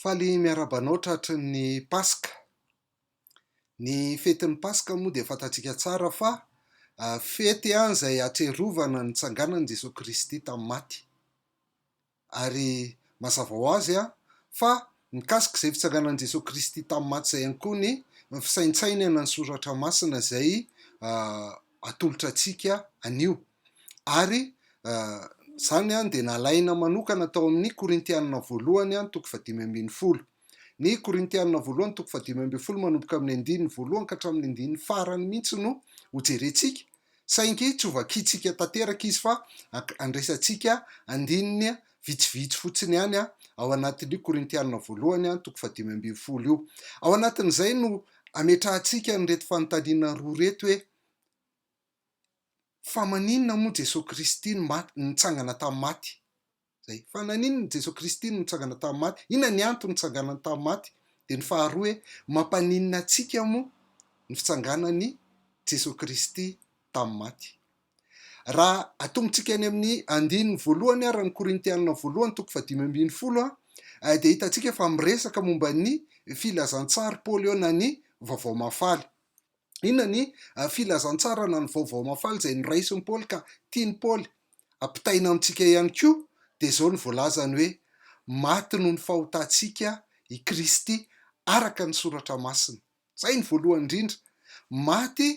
Faly miarahaba anao tratry ny Paska. Ny fetin'ny Paska moa dia fantatsika tsara fa fety izay ahatsiarovana ny nitsanganan'i Jesoa Kristy tamin'ny maty. Ary mazava ho azy fa mikasika izay fitsanganan'i Jesoa Kristy tamin'ny maty izay ihany koa ny fisaintsainana ny soratra masina izay atolotra antsika anio. Ary izany dia nalaina manokana tao amin'ny Korintianina voalohany toko fahadimy ambin'ny folo. Ny Korintianina voalohany toko fahadimy ambin'ny folo manomboka amin'ny andininy voalohany ka hatramin'ny andininy farany mihitsy no hojerentsika, saingy tsy hovakiantsika tanteraka izy fa andraisantsika andininy vitsivitsy fotsiny ihany ao anatin'io Korintianina voalohany toko fahadimy ambin'ny folo io. Ao anatin'izay no ametrahantsika an'ireto fanontaniana roa ireto hoe. Fa maninona moa Jesoa Kristy no maty, nitsangana tamin'ny maty? Zay. Fa naninona Jesoa Kristy no nitsangana tamin'ny maty? Inona ny antony nitsanganany tamin'ny maty? Dia ny faharoa hoe, mampaninona antsika moa ny fitsanganan'i Jesoa Kristy tamin'ny maty? Raha atombotsika any amin'ny andininy voalohany ara ny Korintianina voalohany toko fahadimy ambin'ny folo eh, dia hitantsika fa miresaka momba ny filazantsary Paoly eo na ny Vaovao Mahafaly. Inona ny filazantsarana ny Vaovao Mahafaly izay noraisin'i Paoly ka tian'i Paoly hampitaina amintsika ihany koa? Dia izao no voalazany hoe, Maty noho ny fahotantsika i Kristy araka ny Soratra Masina. Izay no voalohany indrindra. Maty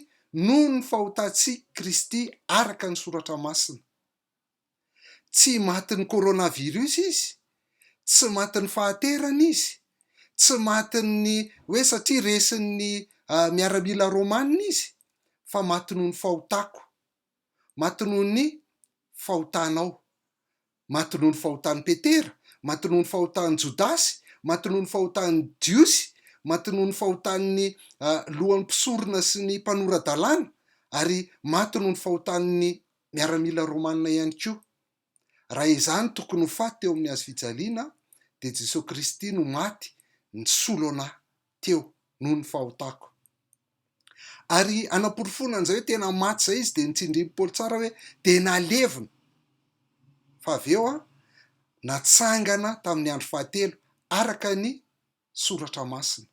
noho ny fahotantsika Kristy araka ny Soratra Masina. Tsy matin'ny coronavirus izy, tsy matin'ny fahaterana izy, tsy matin'ny hoe satria resin'ny miaramila romanina izy, fa maty noho ny fahotako, maty noho ny fahotanao, maty noho ny fahotan'i Petera, maty noho ny fahotan'i Jodasy, maty noho ny fahotan'i Jiosy, maty noho ny fahotan'ny lohan'ny mpisorona sy ny mpanora-dalàna, ary maty noho ny fahotan'ny miaramila romanina ihany koa. Raha izany tokony ho faty teo amin'ny hazofijaliana dia Jesoa Kristy no maty nisolo anah teo noho ny fahotako. Ary hanaporofoana an'izay hoe tena maty izay izy dia nitsindrin'i Paoly tsara hoe dia nalevina fa avy eo natsangana tamin'ny andro fahatelo araka ny soratra masina.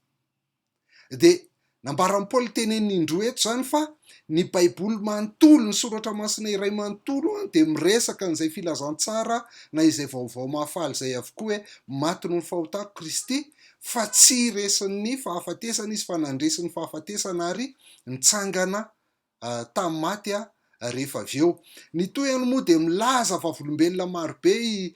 Dia nambaran'i Paoly teneniny indroa eto izany fa ny Baiboly manontolo, ny soratra masina iray manontolo, dia miresaka an'izay filazantsara na izay vaovao mahafaly izay avokoa hoe maty noho ny fahotako Kristy, fa tsy resin'ny fahafatesana izy fa nandresy ny fahafatesana ary nitsangana tamin'ny maty rehefa avy eo. Ny tohiny moa dia milaza vavolombelona maro be i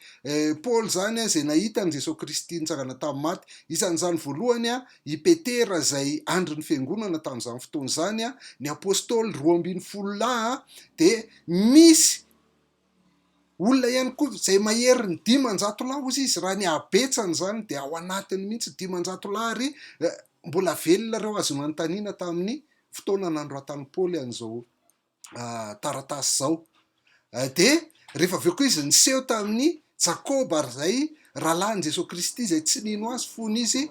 Paoly izany izay nahita an'i Jesoa Kristy nitsangana tamin'ny maty. Isan'izany voalohany i Petera izay andry ny fiangonana tamin'izany fotoana izany. Ny Apôstôly roa ambin'ny folo lahy dia misy Olona ihany koa izay mahery ny dimanjato lahy hozy izy raha ny habetsany izany dia ao anatiny mihitsy dimanjato lahy ary mbola velona ireo azo nanontaniana tamin'ny fotoana nanoratan'i Paoly an'izao taratasy izao. Dia rehefa avy eo koa izy niseho tamin'ny Jakoba ary izay rahalahin'i Jesoa Kristy izay tsy nino azy fony izy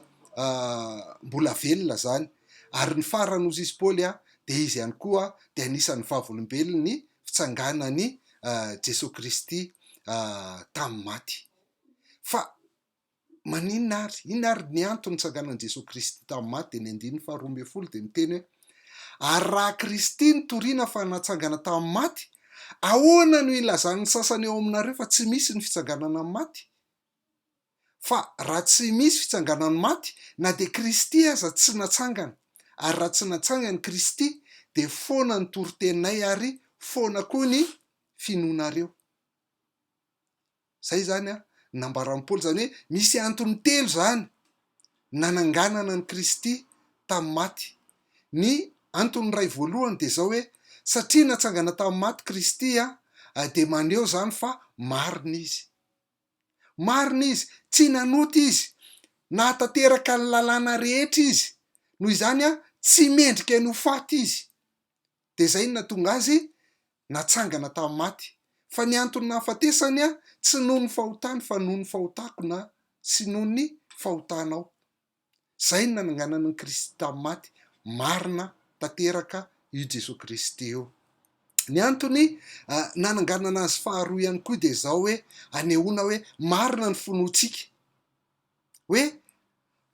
mbola velona izany. Ary ny farany hozy izy Paoly dia izy ihany koa dia anisan'ny vavolombelon'ny fitsanganan'i Jesoa Kristy tamin'ny maty. Fa maninona ary? Inona ary ny antony nitsanganan'i Jesoa Kristy tamin'ny maty? Dia ny andininy faharoa ambin'ny folo dia miteny hoe ary raha Kristy no toriana fa natsangana tamin'ny maty, ahoana no ilazan'ny sasany ao aminareo fa tsy misy ny fitsanganana amin'ny maty? Fa raha tsy misy fitsanganan'ny maty, na dia Kristy aza tsy natsangana, ary raha tsy natsangany Kristy, dia foana ny toriteninay ary foana koa ny finoanareo. Izay izany an, ny nambaran'i Paoly, izany hoe misy antony telo izany nananganana an'i Kristy tamin'ny maty. Ny antony iray voalohany dia izao hoe, satria natsangana tamin'ny maty Kristy dia maneho izany fa marina izy. Marina izy, tsy nanota izy, nahatanteraka ny lalàna rehetra izy, noho izany tsy mendrika ny ho faty izy. Dia izay no nahatonga azy natsangana tamin'ny maty. Fa ny anton'ny nahafatesany tsy noho ny fahotany fa noho ny fahotako na sy noho ny fahotanao. Zay ny nananganana an'i Kristy tamin'ny maty, marina tanteraka io Jesoa Kristy io. Ny antony nananganana azy faharoa ihany koa dia zao hoe anehoana hoe marina ny finoantsika. Hoe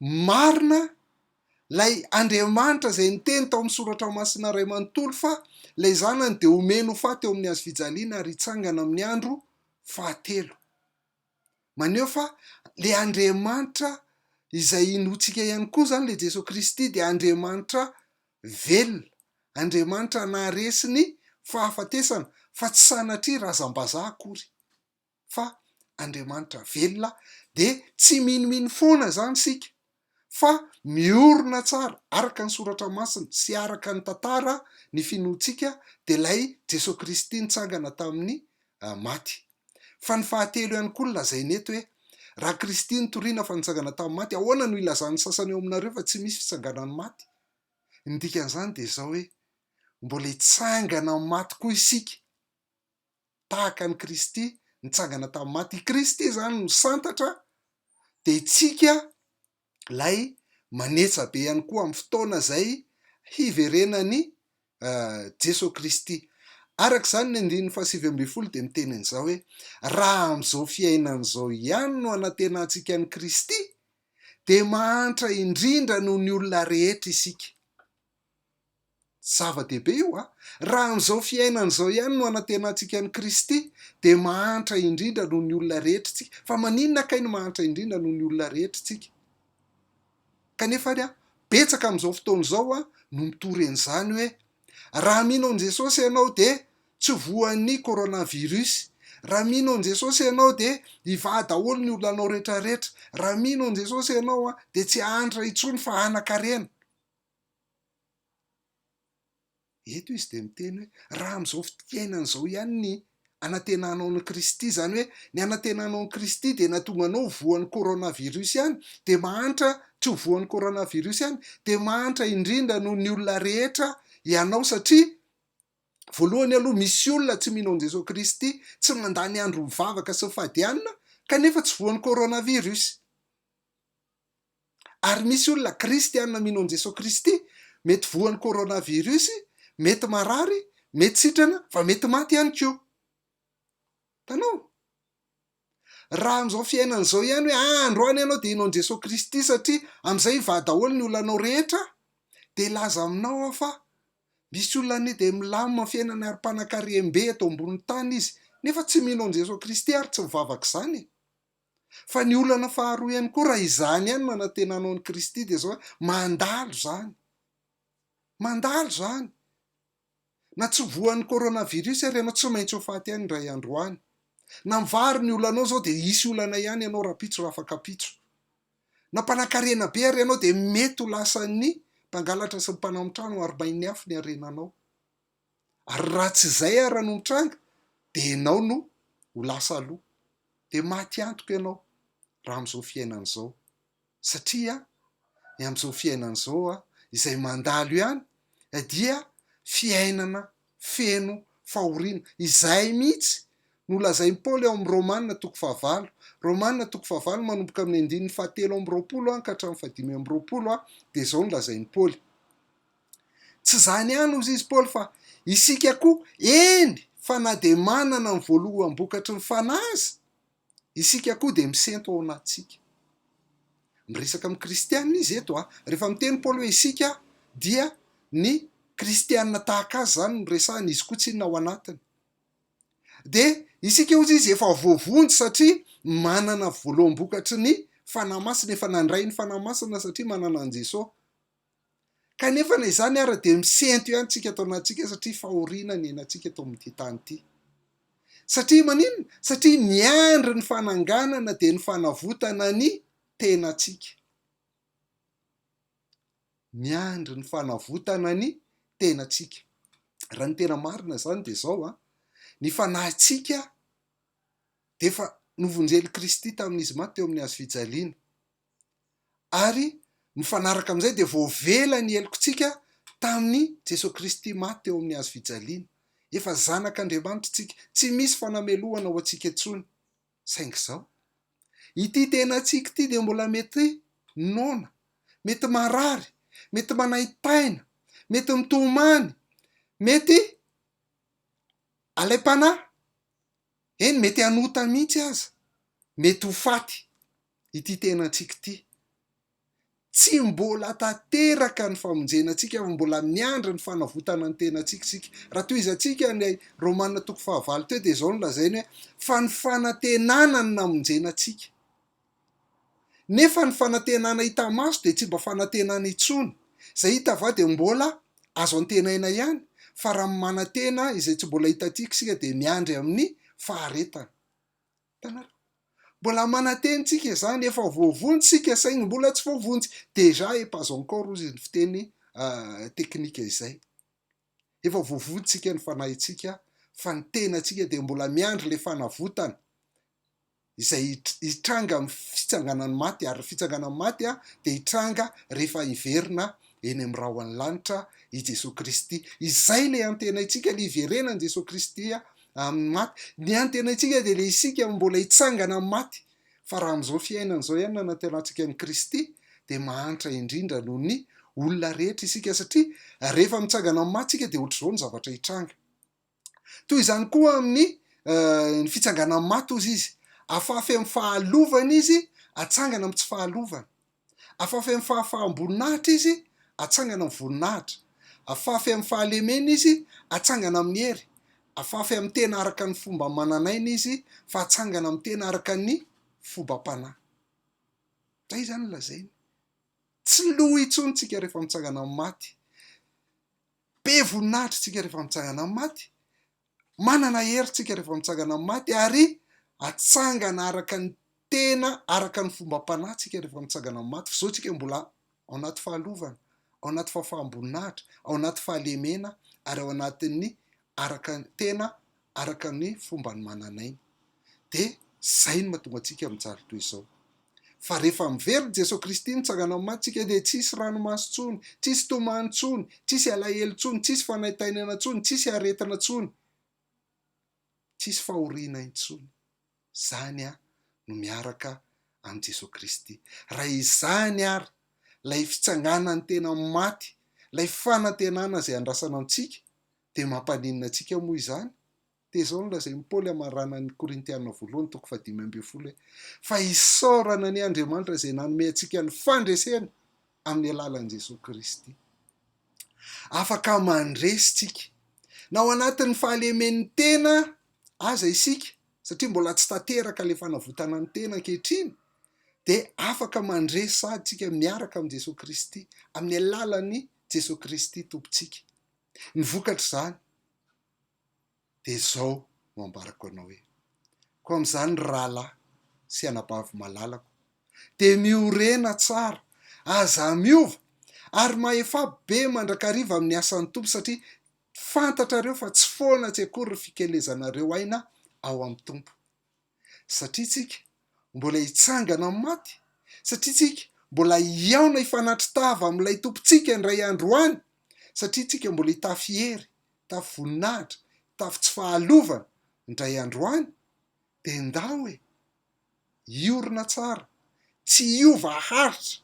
marina lay Andriamanitra zay niteny tao amin'ny soratra masina ray manontolo fa lay zanany dia homeny ho faty eo amin'ny hazofijaliana ary hitsangana amin'ny andro fahatelo. maneho fa ilay Andriamanitra izay inoantsika ihany koa izany, ilay Jesoa Kristy dia Andriamanitra velona, Andriamanitra naharesy ny fahafatesana fa tsy sanatria razam-bazaha akory fa Andriamanitra velona dia tsy minomino foana izany isika. fa miorina tsara araka ny soratra masina sy araka ny tantara ny finoantsika dia ilay Jesoa Kristy nitsangana tamin'ny maty. Fa ny fahatelo ihany koa no lazainy eto hoe, Raha Kristy nitoriana fa nitsangana tamin'ny maty, ahoana no ilazan'ny sasany ao aminareo fa tsy misy fitsanganan'ny maty? Ny dikan'izany dia izao hoe, mbola hitsangana amin'ny maty koa isika. tahaka an'i Kristy nitsangana tamin'ny maty. I Kristy izany no santatra, dia isika ilay manetsa be ihany koa amin'ny fotoana izay hiverenan'i Jesoa Kristy. Araka izany ny andininy fahasivy ambin'ny folo dia miteny an'izao hoe raha amin'izao fiainana izao ihany no anantenantsika an'i Kristy dia mahantra indrindra noho ny olona rehetra isika. Zava-dehibe io a! Raha amin'izao fiainana izao ihany no anantenantsika an'i Kristy dia mahantra indrindra noho ny olona rehetra isika. Fa maninona kay no mahantra indrindra noho ny olona rehetra isika? Kanefa ary a, betsaka amin'izao fotoana izao a, no mitory an'izany hoe, raha mino an'i Jesosy ianao dia tsy voan'ny coronavirus, raha mino an'i Jesosy ianao dia hivaha daholo ny olanao rehetra rehetra, raha mino an'i Jesosy ianao a, dia tsy hahantra intsony fa hanan-karena. Eto izy dia miteny hoe, raha amin'izao fiainana izao ihany ny anantenanao an'i Kristy, izany hoe ny anantenanao an'i Kristy dia nahatonga anao ho voan'ny coronavirus ihany, dia mahantra tsy ho voan'ny coronavirus ihany, dia mahantra indrindra noho ny olona rehetra ianao satria voalohany aloha misy olona tsy mino an'i Jesoa Kristy, tsy mandany andro mivavaka sy mifadianina kanefa tsy voan'ny coronavirus. Ary misy olona kristiana mino an'i Jesoa Kristy, mety voan'ny coronavirus, mety marary, mety sitrana, fa mety maty ihany koa. Hitanao? Raha amin'izao fiainana izao ihany hoe ah, androany ianao dia hino an'i Jesoa Kristy satria amin'izay hivaha daholo ny olanao rehetra, dia hilaza aminao aho fa misy olona anie dia milamina amin'ny fiainana ary mpanakarem-be eto ambonin'ny tany izy, nefa tsy mino an'i Jesoa Kristy ary tsy mivavaka izany e. Fa ny olana faharoa ihany koa, raha izany ihany no anantenanao an'i Kristy dia izao hoe, mandalo izany. Mandalo izany. Na tsy voan'ny coronavirus ary ianao, tsy maintsy ho faty ihany indray andro any. Na mivary ny olanao izao dia hisy olana ihany ianao rahampitso raha afaka pitso. Na mpanakarena be ary ianao dia mety ho lasan'ny mpangalatra sy ny mpanao amin'ny trano arobain'ny afo ny harenanao. ary raha tsy izay ara no mitranga dia ianao no ho lasa aloha dia maty antoka ianao raha amin'izao fiainana izao satria ny amin'izao fiainana izao a izay mandalo ihany dia fiainana feno fahoriana izay mihitsy no lazain'i Paoly ao amin'ny Romana toko fahavalo Romana toko fahavalo manomboka amin'ny andininy fahatelo amby roapolo an ka hatramin'ny fahadimy amby roapolo a dia izao no lazain'i Paoly Tsy izany ihany hozy izy Paoly fa isika koa, eny fa na dia manana ny voaloham-bokatry ny fanahy aza isika koa dia misento ao anatintsika. Miresaka amin'ny kristianina izy eto a. Rehefa miteny Paoly hoe isika dia ny kristianina tahaka azy izany no resahany, izy koa tsy inona ao anatiny. Dia isika hozy izy efa voavonjy satria manana voaloham-bokatry ny fanahy masina, efa nandray ny fanahy masina satria manana an'i Jesoa. Kanefa na izany ara dia misento ihany tsika ato anatintsika satria fahoriana ny ainantsika eto amin'ity tany ity. Satria maninona? Satria miandry ny fananganana dia ny fanavotana ny tenantsika. Miandry ny fanavotana ny tenantsika. Raha ny tena marina izany dia izao a, ny fanahintsika dia efa novonjen'i Kristy tamin'izy maty teo amin'ny hazo fijaliana. ary nifanaraka amin'izay dia voavela ny helokintsika tamin'i Jesoa Kristy maty teo amin'ny hazo fijaliana. Efa zanak'Andriamanitra isika, tsy misy fanamelohana ho antsika intsony. Saingy izao, ity tenantsika ity dia mbola mety noana, mety marary, mety manaintaina, mety mitomany, mety alaim-panahy. Eny mety hanota mihitsy aza, mety ho faty ity tenantsika ity. Tsy mbola tanteraka ny famonjena antsika fa mbola miandry ny fanavotana ny tenantsika isika. Raha tohizantsika ilay Romana toko fahavalo teo dia izao no lazainy hoe fa ny fanantenana no namonjena antsika. Nefa ny fanantenana hita maso dia tsy mba fanantenana intsony. Izay hita va dia mbola azo antenaina ihany? Fa raha manantena izay tsy mbola hitantsika isika dia miandry amin'ny faharetana. Hitanareo? Mbola manantena isika izany, efa voavonjy isika saingy mbola tsy voavonjy. Déjà et pas encore hozy ny fiteny teknika izay. Efa voavonintsika ny fanahintsika fa ny tenantsika dia mbola miandry ilay fanavotana izay hitranga amin'ny fitsanganan'ny maty ary ny fitsanganan'ny maty dia hitranga rehefa hiverina eny amin'ny rahon'ny lanitra i Jesoa Kristy. Izay ilay antenaintsika, ilay hiverenan'i Jesoa Kristy amin'ny maty. Ny antenaintsika dia ilay isika mbola hitsangana amin'ny maty. Fa raha amin'izao fiainana izao ihany no anantenatsika an'i Kristy dia mahantra indrindra noho ny olona rehetra isika satria rehefa mitsangana amin'ny maty isika dia ohatr'izao ny zavatra hitranga. Toy izany koa amin'ny eh, ny fitsanganan'ny maty ozy izy. Afafy amin'ny fahalovana izy, atsangana amin'ny tsy fahalovana. Afafy amin'ny fahafaham-boninahitra izy, atsangana amin'ny voninahitra. Afafy amin'ny fahalemena izy, atsangana amin'ny hery. Afafy amin'ny tena araka ny fomba manan'aina izy, fa atsangana amin'ny tena araka ny fobam-panahy. Izay izany no lazainy. Tsy lo intsony tsika rehefa mitsangana amin'ny maty. Be voninahitra tsika rehefa mitsangana amin'ny maty, Manana hery tsika rehefa mitsangana amin'ny maty ary atsangana araka ny tena araka ny fombam-panahy tsika rehefa mitsangana amin'ny maty. F'izao tsika mbola ao anaty fahalovana, ao anaty fahafaham-boninahitra, ao anaty fahalemena ary ao anatin'ny araka ny tena araka ny fomban'ny manan'aina. dia izay no mahatonga antsika mijaly toy izao. Fa rehefa miverina i Jesoa Kristy mitsangana amin'ny maty isika dia tsy hisy ranomaso intsony, tsy hisy tomany intsony, tsy hisy alahelo intsony, tsy hisy fanaintainana intsony, tsy hisy aretina intsony, tsy hisy fahoriana intsony. Izany aho no miaraka amin'i Jesoa Kristy. Raha izany ary ilay fitsanganan'ny tena amin'ny maty, ilay fanantenana izay andrasana antsika, dia mampaninona antsika moa izany? Dia izao no lazain'i Paoly hamarana ny Korintiana voalohany toko fahadimy ambin'ny folo hoe, Fa isaorana anie Andriamanitra izay nanome antsika ny fandresena amin'ny alalan'i Jesoa Kristy. Afaka mandresy isika na ao anatin'ny fahalemen'ny tena aza isika, satria mbola tsy tanteraka ilay fanavotana ny tena ankehitriny, dia afaka mandresy sahady isika miaraka amin'i Jesoa Kristy, amin'ny alalan'i Jesoa Kristy Tompontsika. Ny vokatr'izany, dia izao no ambarako anao hoe, koa amin'izany ry rahalahy sy anabavy malalako, dia miorena tsara, aza miova, ary mahefa be mandrakariva amin'ny asan'ny Tompo, satria fantatrareo fa tsy foana tsy akory ny fikelezanareo aina ao amin'ny Tompo. satria tsika mbola hitsangana amin'ny maty, satria tsika mbola hihaona hifanatri-tava amin'ilay Tompontsika indray andro any, satria tsika mbola hitafy hery, hitafy voninahitra, hitafy tsy fahalovana indray andro any, dia ndao e! hiorina tsara, tsy hiova haritra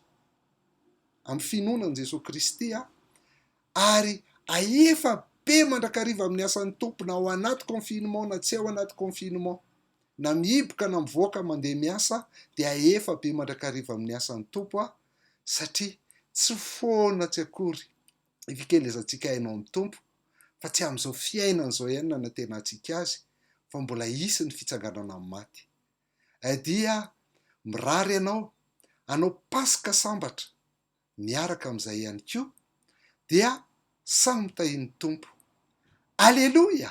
amin'ny finoana an'i Jesoa Kristy aho, ary ahefa be mandrakariva amin'ny asan'ny Tompo na ao anaty confinement na tsy ao anaty confinement, na mihiboka na mivoaka mandeha miasa dia ahefa be mandrakariva amin'ny asan'ny Tompo aho satria tsy foana tsy akory ny fikelezantsika haino amin'ny Tompo fa tsy amin'izao fiainana izao ihany nanantenantsika Azy fa mbola hisy ny fitsanganana amin'ny maty. Dia mirary anao hanao Paska sambatra miaraka amin'izay ihany koa dia samy mitahian'ny Tompo. Aleloia!